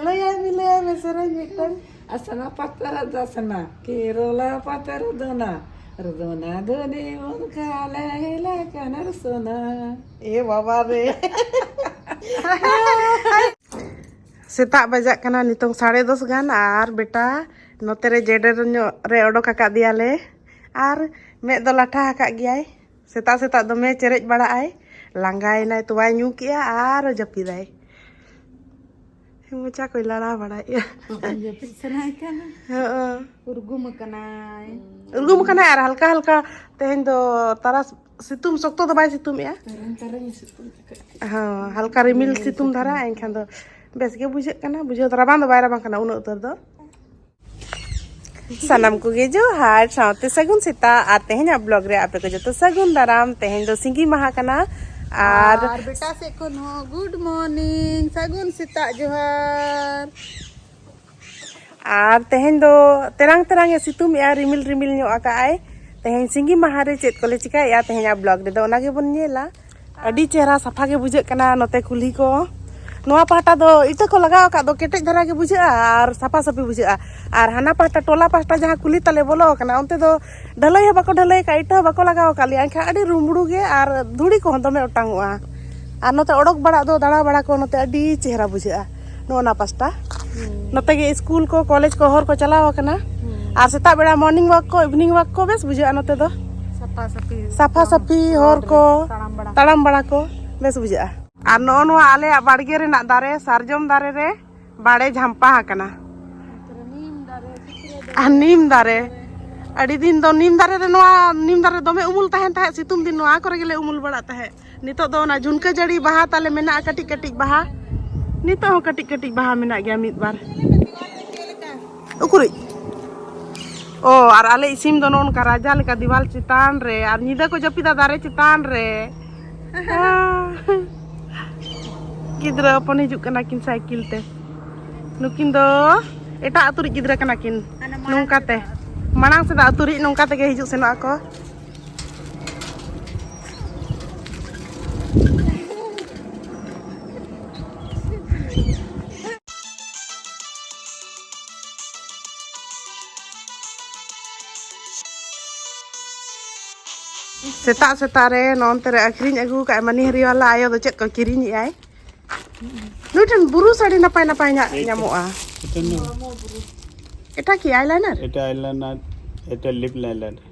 ᱞᱟᱹᱭᱟᱭ ᱢᱮ ᱞᱟᱹᱭᱟᱭ ᱢᱮ ᱥᱮᱨᱮᱧ ᱢᱤᱫᱴᱟᱝ ᱟᱥᱟᱱᱟ ᱯᱟᱛᱨᱟ ᱫᱟᱥᱱᱟ ᱠᱮᱨᱚᱞᱟ ᱯᱟᱛᱨᱟ ᱫᱚᱱᱟ ᱨᱫᱚᱱᱟ ᱫᱚᱱᱤ ᱢᱚᱱᱠᱟ ᱞᱮ ᱦᱮᱞᱟ ᱠᱟᱱᱟᱨ ᱥᱚᱱᱟ ᱮ ᱵᱟᱵᱟ ᱨᱮ ᱥᱮᱛᱟᱜ ᱵᱟᱡᱟᱜ ᱠᱟᱱᱟ ᱱᱤᱛᱚᱝ ᱥᱟᱲᱮ ᱫᱚᱥ ᱜᱟᱱ ᱟᱨ ᱵᱮᱴᱟ ᱱᱚᱛᱮ ᱨᱮ ᱡᱮᱰᱮᱨ ᱧᱚᱜ ᱨᱮ ᱚᱰᱚᱠ ᱟᱠᱟᱫ ᱫᱮᱭᱟᱞᱮ ᱟᱨ ᱢᱮᱫ ᱫᱚ ᱞᱟᱴᱷᱟ ᱟᱠᱟᱫ ᱜᱮᱭᱟᱭ ᱥᱮᱛᱟᱜ ᱥᱮᱛᱟᱜ ᱫᱚᱢᱮ ᱪᱮᱨᱮᱡ ᱵᱟᱲᱟᱜ ᱟᱭ ᱞᱟᱸᱜᱟᱭᱮᱱᱟᱭ ᱛᱚᱣᱟᱭ ᱧᱩ ᱠᱮᱜᱼᱟ ᱟᱨ ᱡᱟᱹᱯᱤᱫᱟᱭ ᱢᱚᱪᱟ ᱠᱚᱭ ᱞᱟᱲᱟ ᱵᱟᱲᱟᱭᱮᱜᱼᱟ ᱡᱟᱹᱯᱤᱫ ᱥᱟᱱᱟᱭ ᱠᱟᱱᱟ ᱩᱨᱜᱩᱢ ᱟᱠᱟᱱᱟᱭ ᱩᱨᱜᱩᱢ ᱟᱠᱟᱱᱟᱭ ᱟᱨ ᱦᱟᱞᱠᱟ ᱦᱟᱞᱠᱟ ᱛᱮᱦᱮᱧ ᱫᱚ ᱛᱟᱨᱟᱥ ᱥᱤᱛᱩᱝ ᱥᱚᱠᱛᱚ ᱫᱚ ᱵᱟᱭ ᱥᱤᱛᱩᱝᱮᱜᱼᱟ ᱦᱚᱸ ᱦᱟᱞᱠᱟ ᱨᱤᱢᱤᱞ ᱥᱤᱛᱩᱝ ᱫᱷᱟᱨᱟ ᱮᱱᱠᱷᱟᱱ ᱫᱚ ᱵᱮᱥ ᱜᱮ ᱵᱩᱡᱷᱟᱹᱜ ᱠᱟᱱᱟ ᱵᱩᱡᱷᱟᱹᱣ ᱫᱚ ᱨᱟᱵᱟᱝ ᱫᱚ ᱵᱟᱭ ᱨᱟᱵᱟᱝ ᱠᱟᱱᱟ ᱩᱱᱟᱹᱜ ᱩᱛᱟᱹᱨ ᱫᱚ ᱥᱟᱱᱟᱢ ᱠᱚᱜᱮ ᱡᱚᱦᱟᱨ ᱥᱟᱶᱛᱮ ᱥᱟᱹᱜᱩᱱ ᱥᱮᱛᱟᱜ ᱟᱨ ᱛᱮᱦᱮᱧᱟᱜ ᱵᱞᱚᱜ ᱨᱮ ᱟᱯᱮ ᱠᱚ ᱡᱚᱛᱚ ᱥᱟᱹᱜᱩᱱ ᱫᱟᱨᱟᱢ ᱛᱮᱦᱮᱧ ᱫᱚ ᱥᱤᱸᱜᱤ ᱢᱟᱦᱟ ᱠᱟᱱᱟ ᱟᱨ ᱵᱮᱴᱟ ᱥᱮᱫ ᱠᱷᱚᱱ ᱦᱚᱸ ᱜᱩᱰ ᱢᱚᱨᱱᱤᱝ ᱥᱟᱹᱜᱩᱱ ᱥᱮᱛᱟᱜ ᱡᱚᱦᱟᱨ ᱟᱨ ᱛᱮᱦᱮᱧ ᱫᱚ ᱛᱮᱨᱟᱝ ᱛᱮᱨᱟᱝ ᱮ ᱥᱤᱛᱩᱝ ᱮᱜᱼᱟ ᱨᱤᱢᱤᱞ ᱨᱤᱢᱤᱞ ᱧᱚᱜ ᱟᱠᱟᱜᱼᱟᱭ ᱛᱮᱦᱮᱧ ᱥᱤᱸᱜᱤ ᱢᱟᱦᱟ ᱨᱮ ᱪᱮᱫ ᱠᱚᱞᱮ ᱪᱤᱠᱟᱹᱭᱮᱜᱼᱟ ᱛᱮᱦᱮᱧᱟᱜ ᱵᱞᱚᱜ ᱨᱮᱫᱚ ᱚᱱᱟ ᱜᱮᱵᱚᱱ ᱧᱮᱞᱟ ᱟᱹᱰᱤ ᱪᱮᱦᱨᱟ ᱥᱟᱯᱷᱟ ᱜᱮ ᱵᱩᱡᱷᱟᱹᱜ ᱠᱟᱱᱟ ᱱᱚᱛᱮ ᱠᱩᱞᱦᱤ ᱠᱚ ᱱᱚᱣᱟ ᱯᱟᱦᱴᱟ ᱫᱚ ᱤᱛᱟᱹ ᱠᱚ ᱞᱟᱜᱟᱣ ᱟᱠᱟᱫ ᱫᱚ ᱠᱮᱴᱮᱡ ᱫᱷᱟᱨᱟ ᱜᱮ ᱵᱩᱡᱷᱟᱹᱜᱼᱟ ᱟᱨ ᱥᱟᱯᱷᱟ ᱥᱟᱹᱯᱷᱤ ᱵᱩᱡᱷᱟᱹᱜᱼᱟ ᱟᱨ ᱦᱟᱱᱟ ᱯᱟᱦᱴᱟ ᱴᱚᱞᱟ ᱯᱟᱦᱴᱟ ᱡᱟᱦᱟᱸ ᱠᱩᱞᱦᱤ ᱛᱟᱞᱮ ᱵᱚᱞᱚ ᱟᱠᱟᱱᱟ ᱚᱱᱛᱮ ᱫᱚ ᱰᱷᱟᱹᱞᱟᱹᱭ ᱦᱚᱸ ᱵᱟᱠᱚ ᱰᱷᱟᱹᱞᱟᱹᱭ ᱟᱠᱟᱫ ᱤᱴᱟᱹ ᱦᱚᱸ ᱵᱟᱠᱚ ᱞᱟᱜᱟᱣ ᱟᱠᱟᱫ ᱞᱮᱭᱟ ᱮᱱᱠᱷᱟᱱ ᱟᱹᱰᱤ ᱨᱩᱢᱲᱩ ᱜᱮ ᱟᱨ ᱫᱷᱩᱲᱤ ᱠᱚᱦᱚᱸ ᱫᱚᱢᱮ ᱚᱴᱟᱝᱚᱜᱼᱟ ᱟᱨ ᱱᱚᱛᱮ ᱚᱰᱚᱠ ᱵᱟᱲᱟᱜ ᱫᱚ ᱫᱟᱬᱟ ᱵᱟᱲᱟ ᱠᱚ ᱱᱚᱛᱮ ᱟᱹᱰᱤ ᱪᱮᱦᱨᱟ ᱵᱩᱡᱷᱟᱹᱜᱼᱟ ᱱᱚᱜᱼᱚ ᱱᱟ ᱯᱟᱥᱴᱟ ᱱᱚᱛᱮ ᱜᱮ ᱥᱠᱩᱞ ᱠᱚ ᱠᱚᱞᱮᱡᱽ ᱠᱚ ᱦᱚᱨ ᱠᱚ ᱪᱟᱞᱟᱣ ᱟᱠᱟᱱᱟ ᱟᱨ ᱥᱮᱛᱟᱜ ᱵᱮᱲᱟ ᱢᱚᱨᱱᱤᱝ ᱣᱟᱠ ᱠᱚ ᱤᱵᱷᱤᱱᱤᱝ ᱣᱟᱠ ᱠᱚ ᱵᱮᱥ ᱵᱩᱡᱷᱟᱹᱜᱼᱟ ᱱᱚᱛᱮ ᱫᱚ ᱥᱟᱯᱷᱟ ᱥᱟᱯᱷᱤ ᱦᱚᱨ ᱠᱚ ᱛᱟᱲᱟᱢ ᱵᱟᱲᱟ ᱠᱚ ᱵᱮᱥ ᱵᱩᱡᱷᱟᱹᱜᱼᱟ ᱟᱨ ᱱᱚᱜᱼᱚ ᱱᱚᱣᱟ ᱟᱞᱮᱭᱟᱜ ᱵᱟᱲᱜᱮ ᱨᱮᱱᱟᱜ ᱫᱟᱨᱮ ᱥᱟᱨᱡᱚᱢ ᱫᱟᱨᱮ ᱨᱮ ᱵᱟᱲᱮ ᱡᱷᱟᱢᱯᱟ ᱟᱠᱟᱱᱟ ᱟᱨ ᱱᱤᱢ ᱫᱟᱨᱮ ᱟᱹᱰᱤ ᱫᱤᱱ ᱫᱚ ᱱᱤᱢ ᱫᱟᱨᱮ ᱨᱮ ᱱᱚᱣᱟ ᱱᱤᱢ ᱫᱟᱨᱮ ᱫᱚᱢᱮ ᱩᱢᱩᱞ ᱛᱟᱦᱮᱱ ᱛᱟᱦᱮᱸᱫ ᱥᱤᱛᱩᱝ ᱫᱤᱱ ᱱᱚᱣᱟ ᱠᱚᱨᱮ ᱜᱮᱞᱮ ᱩᱢᱩᱞ ᱵᱟᱲᱟᱜ ᱛᱟᱦᱮᱸᱫ ᱱᱤᱛᱚᱜ ᱫᱚ ᱚᱱᱟ ᱡᱷᱩᱱᱠᱟᱹ ᱡᱟᱹᱲᱤ ᱵᱟᱦᱟ ᱛᱟᱞᱮ ᱢᱮᱱᱟᱜᱼᱟ ᱠᱟᱹᱴᱤᱡ ᱠᱟᱹᱴᱤᱡ ᱵᱟᱦᱟ ᱱᱤᱛᱚᱜ ᱦᱚᱸ ᱠᱟᱹᱴᱤᱡ ᱠᱟᱹᱴᱤᱡ ᱵᱟᱦᱟ ᱢᱮᱱᱟᱜ ᱜᱮᱭᱟ ᱢᱤᱫ ᱵᱟᱨ ᱩᱠᱩᱨᱤᱡ ᱚ ᱟᱨ ᱟᱞᱮ ᱤᱥᱤᱱ ᱫᱚ ᱱᱚᱝᱠᱟ ᱨᱟᱡᱟ ᱞᱮᱠᱟ ᱫᱤᱣᱟᱞ ᱪᱮᱛᱟᱱ ᱨᱮ ᱟᱨ ᱧᱤᱫᱟᱹ ᱠᱚ ᱡᱟᱹᱯᱤᱫᱟ ᱫᱟᱨᱮ ᱪᱮᱛᱟᱱ ᱨᱮ ᱜᱤᱫᱽᱨᱟᱹ ᱦᱚᱯᱚᱱ ᱦᱤᱡᱩᱜ ᱠᱟᱱᱟ ᱠᱤᱱ ᱥᱟᱭᱠᱮᱞ ᱛᱮ ᱱᱩᱠᱤᱱ ᱫᱚ ᱮᱴᱟᱜ ᱟᱹᱛᱩ ᱨᱤᱡ ᱜᱤᱫᱽᱨᱟᱹ ᱠᱟᱱᱟ ᱠᱤᱱ ᱱᱚᱝᱠᱟᱛᱮ ᱢᱟᱲᱟᱝ ᱥᱮᱫᱟᱜ ᱟᱹᱛᱩ ᱨᱤᱡ ᱱᱚᱝᱠᱟ ᱛᱮᱜᱮ ᱦᱤᱡᱩᱜ ᱥᱮᱱᱚᱜ ᱟᱠᱚ ᱥᱮᱛᱟᱜ ᱥᱮᱛᱟᱜ ᱨᱮ ᱱᱚᱱᱛᱮ ᱨᱮ ᱟᱹᱠᱷᱨᱤᱧ ᱟᱹᱜᱩ ᱠᱟᱜ ᱢᱟᱹᱱᱤ ᱦᱟᱹᱨᱤᱣᱟᱞᱟ ᱟᱭᱳ ᱫᱚ ᱪᱮᱫ ᱠᱚ ᱠᱤᱨᱤᱧᱮᱜ ᱟᱭ ᱱᱩᱭ ᱴᱷᱮᱱ ᱵᱩᱨᱩ ᱥᱟᱹᱲᱤ ᱱᱟᱯᱟᱭ ᱱᱟᱯᱟᱭ ᱧᱟᱜ ᱧᱟᱢᱚᱜᱼᱟ ᱮᱴᱟ ᱠᱤ ᱟᱭᱞᱟᱭᱱᱟᱨ ᱮᱴᱟ ᱟᱭᱞᱟᱭᱱᱟᱨ ᱮᱴᱟ ᱞᱤᱯ ᱞᱟᱭᱞᱟᱭᱱᱟᱨ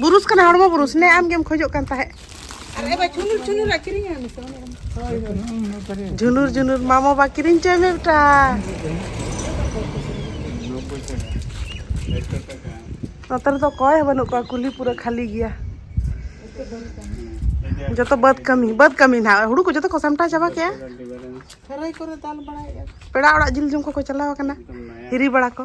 ᱵᱩᱨᱩᱥ ᱠᱟᱱᱟ ᱦᱚᱲᱢᱚ ᱵᱩᱨᱩᱥ ᱱᱮ ᱟᱢ ᱜᱮᱢ ᱠᱷᱚᱡᱚᱜ ᱠᱟᱱ ᱛᱟᱦᱮᱸᱫ ᱡᱷᱩᱱᱩᱨ ᱡᱷᱩᱱᱩᱨ ᱢᱟᱢᱚ ᱵᱟ ᱠᱤᱨᱤᱧ ᱪᱚᱭ ᱢᱮ ᱵᱮᱴᱟ ᱱᱚᱛᱮ ᱨᱮᱫᱚ ᱚᱠᱚᱭ ᱦᱚᱸ ᱵᱟᱹᱱᱩᱜ ᱠᱚᱣᱟ ᱠᱩᱞᱦᱤ ᱯᱩᱨᱟᱹ ᱠᱷᱟᱹᱞᱤ ᱜᱮᱭᱟ ᱡᱚᱛᱚ ᱵᱟᱹᱫᱽ ᱠᱟᱹᱢᱤ ᱵᱟᱹᱫᱽ ᱠᱟᱹᱢᱤ ᱱᱟᱦᱟᱜ ᱦᱩᱲᱩ ᱠᱚ ᱡᱚᱛᱚ ᱠᱚ ᱥᱟᱢᱴᱟᱣ ᱪᱟᱵᱟ ᱠᱮᱜᱼᱟ ᱠᱷᱟᱹᱨᱟᱹᱭ ᱠᱚᱨᱮ ᱫᱟᱞ ᱵᱟᱲᱟᱭᱮᱜᱼᱟ ᱯᱮᱲᱟ ᱚᱲᱟᱜ ᱡᱤᱞ ᱡᱚᱢ ᱠᱚᱠᱚ ᱪᱟᱞᱟᱣ ᱟᱠᱟᱱᱟ ᱦᱤᱨᱤ ᱵᱟᱲᱟ ᱠᱚ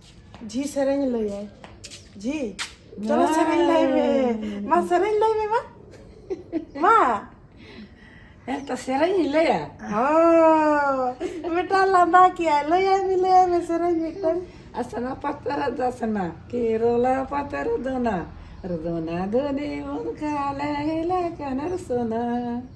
ᱡᱷᱤ ᱥᱮᱨᱮᱧ ᱞᱟᱹᱭᱟᱭ ᱡᱷᱤ ᱪᱚᱞᱚ ᱥᱮᱨᱮᱧ ᱞᱟᱹᱭ ᱢᱮ ᱢᱟ ᱥᱮᱨᱮᱧ ᱞᱟᱹᱭ ᱢᱮ ᱢᱟ ᱢᱟ ᱦᱮᱸ ᱛᱚ ᱥᱮᱨᱮᱧ ᱤᱧ ᱞᱟᱹᱭᱟ ᱵᱮᱴᱟ ᱞᱟᱸᱫᱟ ᱠᱮᱜᱼᱟᱭ ᱞᱟᱹᱭᱟᱭ ᱢᱮ ᱞᱟᱹᱭᱟᱭ ᱢᱮ ᱥᱮᱨᱮᱧ ᱢᱤᱫᱴᱟᱝ ᱟᱥᱱᱟ ᱯᱟᱛᱨᱟ ᱫᱟᱥᱱᱟ ᱠᱮᱨᱚᱞᱟ ᱯᱟᱛᱨᱟ ᱫᱚᱱᱟ ᱨᱚᱫᱚᱱᱟ ᱫᱚᱱᱤ ᱢᱚᱱᱠᱟ ᱞᱮ ᱦᱤᱞᱟ ᱠᱟᱱᱟᱨ ᱥᱚᱱᱟ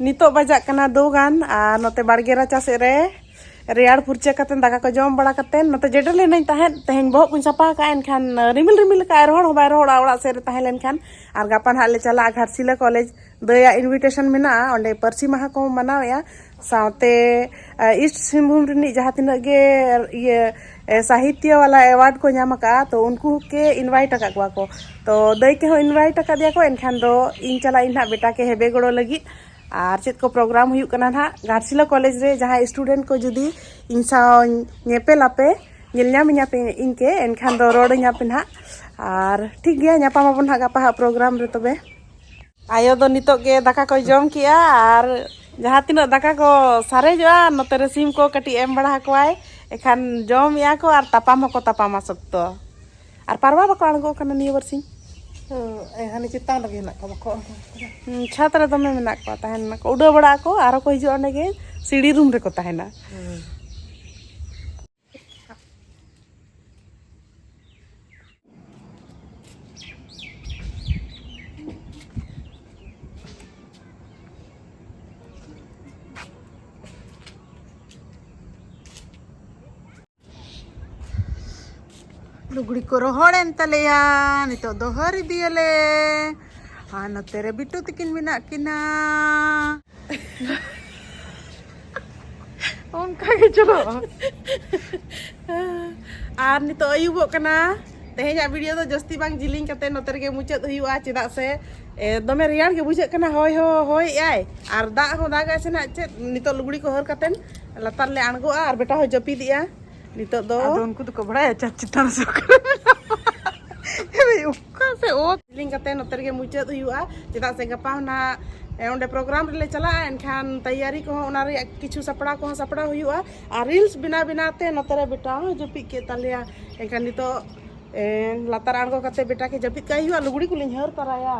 ᱱᱤᱛᱚᱜ ᱵᱟᱡᱟᱜ ᱠᱟᱱᱟ ᱫᱚ ᱜᱟᱱ ᱟᱨ ᱱᱚᱛᱮ ᱵᱟᱲᱜᱮ ᱨᱟᱪᱟ ᱥᱮᱫ ᱨᱮ ᱨᱮᱭᱟᱲ ᱯᱷᱩᱨᱪᱟᱹ ᱠᱟᱛᱮ ᱫᱟᱠᱟ ᱠᱚ ᱡᱚᱢ ᱵᱟᱲᱟ ᱠᱟᱛᱮ ᱱᱚᱛᱮ ᱡᱮᱰᱮᱨ ᱞᱮᱱᱟᱹᱧ ᱛᱟᱦᱮᱸᱫ ᱛᱮᱦᱮᱧ ᱵᱚᱦᱚᱜ ᱠᱚᱧ ᱥᱟᱯᱷᱟ ᱟᱠᱟᱫᱼᱟ ᱮᱱᱠᱷᱟᱱ ᱨᱤᱢᱤᱞ ᱨᱤᱢᱤᱞ ᱟᱠᱟᱫᱼᱟᱭ ᱨᱚᱦᱚᱲ ᱦᱚᱸ ᱵᱟᱭ ᱨᱚᱦᱚᱲᱟ ᱚᱲᱟᱜ ᱥᱮᱫ ᱨᱮ ᱛᱟᱦᱮᱸ ᱞᱮᱱᱠᱷᱟᱱ ᱟᱨ ᱜᱟᱯᱟ ᱱᱟᱦᱟᱜ ᱞᱮ ᱪᱟᱞᱟᱜᱼᱟ ᱜᱷᱟᱴᱥᱤᱞᱟ ᱠᱚᱞᱮᱡᱽ ᱫᱟᱹᱭᱟᱜ ᱤᱱᱵᱷᱤᱴᱮᱥᱚᱱ ᱢᱮᱱᱟᱜᱼᱟ ᱚᱸᱰᱮ ᱯᱟᱹᱨᱥᱤ ᱢᱟᱦᱟ ᱠᱚ ᱢᱟᱱᱟᱣᱮᱫᱼᱟ ᱥᱟᱶᱛᱮ ᱤᱥᱴ ᱥᱤᱝᱵᱷᱩᱢ ᱨᱤᱱᱤᱡ ᱡᱟᱦᱟᱸ ᱛᱤᱱᱟᱹᱜ ᱜᱮ ᱤᱭᱟᱹ ᱥᱟᱦᱤᱛᱭᱚ ᱵᱟᱞᱟ ᱮᱣᱟᱨᱰ ᱠᱚ ᱧᱟᱢ ᱟᱠᱟᱫᱼᱟ ᱛᱚ ᱩᱱᱠᱩ ᱠᱮ ᱤᱱᱵᱷᱟᱭᱤᱴ ᱟᱠᱟᱫ ᱠᱚᱣᱟ ᱠᱚ ᱛᱚ ᱫᱟᱹᱭ ᱠᱮ ᱦᱚᱸ ᱤᱱᱵᱷᱟᱭᱤᱴ ᱟᱠᱟᱫᱮᱭᱟ ᱠᱚ ᱮᱱᱠᱷᱟᱱ ᱫᱚ ᱤᱧ ᱪᱟᱞᱟᱜ ᱤᱧ ᱱᱟᱦᱟᱜ ᱵᱮᱴᱟ ᱠᱮ ᱦᱮᱵᱮ ᱜᱚᱲᱚ ᱞᱟᱹᱜᱤᱫ ᱟᱨ ᱪᱮᱫ ᱠᱚ ᱯᱨᱳᱜᱨᱟᱢ ᱦᱩᱭᱩᱜ ᱠᱟᱱᱟ ᱱᱟᱦᱟᱜ ᱜᱷᱟᱴᱥᱤᱞᱟ ᱠᱚᱞᱮᱡᱽ ᱨᱮ ᱡᱟᱦᱟᱸᱭ ᱥᱴᱩᱰᱮᱱᱴ ᱠᱚ ᱡᱩᱫᱤ ᱤᱧ ᱥᱟᱶ ᱧᱮᱯᱮᱞ ᱟᱯᱮ ᱧᱮᱞ ᱧᱟᱢ ᱤᱧᱟ ᱯᱮ ᱤᱧ ᱠᱮ ᱮᱱᱠᱷᱟᱱ ᱫᱚ ᱨᱚᱲ ᱤᱧᱟ ᱯᱮ ᱱᱟᱦᱟᱜ ᱟᱨ ᱴᱷᱤᱠ ᱜᱮᱭᱟ ᱧᱟᱯᱟᱢ ᱟᱵᱚᱱ ᱱᱟᱦᱟᱜ ᱜᱟᱯᱟ ᱦᱟᱜ ᱯᱨᱳᱜᱨᱟᱢ ᱨᱮ ᱛᱚᱵᱮ ᱟᱭᱳ ᱫᱚ ᱱᱤᱛᱚᱜ ᱜᱮ ᱫᱟᱠᱟ ᱠᱚᱭ ᱡᱚᱢ ᱠᱮᱜᱼᱟ ᱟᱨ ᱡᱟᱦᱟᱸ ᱛᱤᱱᱟᱹᱜ ᱫᱟᱠᱟ ᱠᱚ ᱥᱟᱨᱮᱡᱚᱜᱼᱟ ᱱᱚᱛᱮ ᱨᱮ ᱥᱤᱢ ᱠᱚ ᱠᱟᱹᱴᱤᱡ ᱮᱢ ᱵᱟᱲᱟ ᱟᱠᱚᱣᱟᱭ ᱮᱠᱷᱟᱱ ᱡᱚᱢᱮᱜᱼᱟ ᱠᱚ ᱟᱨ ᱛᱟᱯᱟᱢ ᱦᱚᱸᱠᱚ ᱛᱟᱯᱟᱢᱟ ᱥᱚᱠᱛᱚ ᱟᱨ ᱯᱟᱨᱣᱟ ᱵᱟᱠᱚ ᱟᱬᱜᱚ ᱠᱟᱱᱟ ᱱᱤᱭᱟᱹ ᱵᱟᱨᱥᱤᱧ ᱦᱟᱱᱮ ᱪᱮᱛᱟᱱ ᱨᱮᱜᱮ ᱦᱮᱱᱟᱜ ᱠᱚᱣᱟ ᱵᱟᱠᱚ ᱪᱷᱟᱛ ᱨᱮ ᱫᱚᱢᱮ ᱢᱮᱱᱟᱜ ᱠᱚᱣᱟ ᱛᱟᱦᱮᱱ ᱱᱟᱠᱚ ᱩᱰᱟᱹᱣ ᱵᱟᱲᱟᱜ ᱟᱠᱚ ᱟᱨᱚ ᱠᱚ ᱦᱤᱡᱩᱜᱼᱟ ᱚᱸᱰᱮ ᱜᱮ ᱥᱤᱲᱤ ᱨᱩᱢ ᱨᱮᱠᱚ ᱛᱟᱦᱮᱱᱟ ᱞᱩᱜᱽᱲᱤ ᱠᱚ ᱨᱚᱦᱚᱲᱮᱱ ᱛᱟᱞᱮᱭᱟ ᱱᱤᱛᱚᱜ ᱫᱚ ᱦᱟᱹᱨ ᱤᱫᱤᱭᱟᱞᱮ ᱟᱨ ᱱᱚᱛᱮ ᱨᱮ ᱵᱤᱴᱩ ᱛᱤᱠᱤᱱ ᱢᱮᱱᱟᱜ ᱠᱤᱱᱟ ᱚᱱᱠᱟ ᱜᱮ ᱪᱟᱞᱟᱜᱼᱟ ᱟᱨ ᱱᱤᱛᱚᱜ ᱟᱹᱭᱩᱵᱚᱜ ᱠᱟᱱᱟ ᱛᱮᱦᱮᱧᱟᱜ ᱵᱷᱤᱰᱤᱭᱳ ᱫᱚ ᱡᱟᱹᱥᱛᱤ ᱵᱟᱝ ᱡᱤᱞᱤᱧ ᱠᱟᱛᱮ ᱱᱚᱛᱮ ᱨᱮᱜᱮ ᱢᱩᱪᱟᱹᱫ ᱦᱩᱭᱩᱜᱼᱟ ᱪᱮᱫᱟᱜ ᱥᱮ ᱫᱚᱢᱮ ᱨᱮᱭᱟᱲ ᱜᱮ ᱵᱩᱡᱷᱟᱹᱜ ᱠᱟᱱᱟ ᱦᱚᱭ ᱦᱚ ᱦᱚᱭᱮᱜᱼᱟᱭ ᱟᱨ ᱫᱟᱜ ᱦᱚᱸ ᱫᱟᱜᱟᱭ ᱥᱮ ᱱᱟᱜ ᱪᱮᱫ ᱱᱤᱛᱚᱜ ᱞᱩᱜᱽᱲᱤ ᱠᱚ ᱦᱚᱨ ᱠᱟᱛᱮ ᱞᱟᱛᱟᱨ ᱞᱮ ᱟᱬᱜᱚᱜᱼᱟ ᱟᱨ ᱵᱮᱴᱟ ᱦᱚᱸ ᱡᱟᱹᱯᱤᱫᱮᱜᱼᱟ ᱱᱤᱛᱚᱜ ᱫᱚ ᱟᱫᱚ ᱩᱱᱠᱩ ᱫᱚᱠᱚ ᱵᱟᱲᱟᱭᱟ ᱪᱟᱸᱫ ᱪᱮᱛᱟᱱ ᱥᱮ ᱚᱠᱟ ᱥᱮ ᱚᱛ ᱞᱤᱝ ᱠᱟᱛᱮ ᱱᱚᱛᱮ ᱨᱮᱜᱮ ᱢᱩᱪᱟᱹᱫ ᱦᱩᱭᱩᱜᱼᱟ ᱪᱮᱫᱟᱜ ᱥᱮ ᱜᱟᱯᱟ ᱦᱚᱱᱟᱜ ᱚᱸᱰᱮ ᱯᱨᱳᱜᱨᱟᱢ ᱨᱮᱞᱮ ᱪᱟᱞᱟᱜᱼᱟ ᱮᱱᱠᱷᱟᱱ ᱛᱮᱭᱟᱨᱤ ᱠᱚᱦᱚᱸ ᱚᱱᱟ ᱨᱮᱭᱟᱜ ᱠᱤᱪᱷᱩ ᱥᱟᱯᱲᱟᱣ ᱠᱚᱦᱚᱸ ᱥᱟᱯᱲᱟᱣ ᱦᱩᱭᱩᱜᱼᱟ ᱟᱨ ᱨᱤᱞᱥ ᱵᱮᱱᱟᱣ ᱵᱮᱱᱟᱣ ᱛᱮ ᱱᱚᱛᱮ ᱨᱮ ᱵᱮᱴᱟ ᱦᱚᱸ ᱡᱟᱹᱯᱤᱫ ᱠᱮᱫ ᱛᱟᱞᱮᱭᱟ ᱮᱱᱠᱷᱟᱱ ᱱᱤᱛᱚᱜ ᱞᱟᱛᱟᱨ ᱟᱬᱜᱚ ᱠᱟᱛᱮ ᱵᱮᱴᱟ ᱠᱮ ᱡᱟᱹᱯᱤᱫ ᱠᱟᱭ ᱦᱩᱭᱩᱜᱼᱟ ᱞᱩᱜᱽᱲᱤ ᱠᱚᱞᱤᱧ ᱦᱟᱹᱨ ᱛᱟᱨᱟᱭᱟ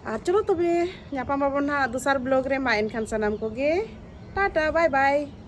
ᱟᱨ ᱪᱚᱞᱚ ᱛᱚᱵᱮ ᱧᱟᱯᱟᱢ ᱟᱵᱚᱱ ᱦᱟᱸᱜ ᱫᱚᱥᱟᱨ ᱵᱞᱚᱜᱽ ᱨᱮ ᱢᱟ ᱮᱱᱠᱷᱟᱱ ᱥᱟᱱᱟᱢ ᱠᱚᱜᱮ ᱴᱟᱴᱟ ᱵᱟᱭ ᱵᱟᱭ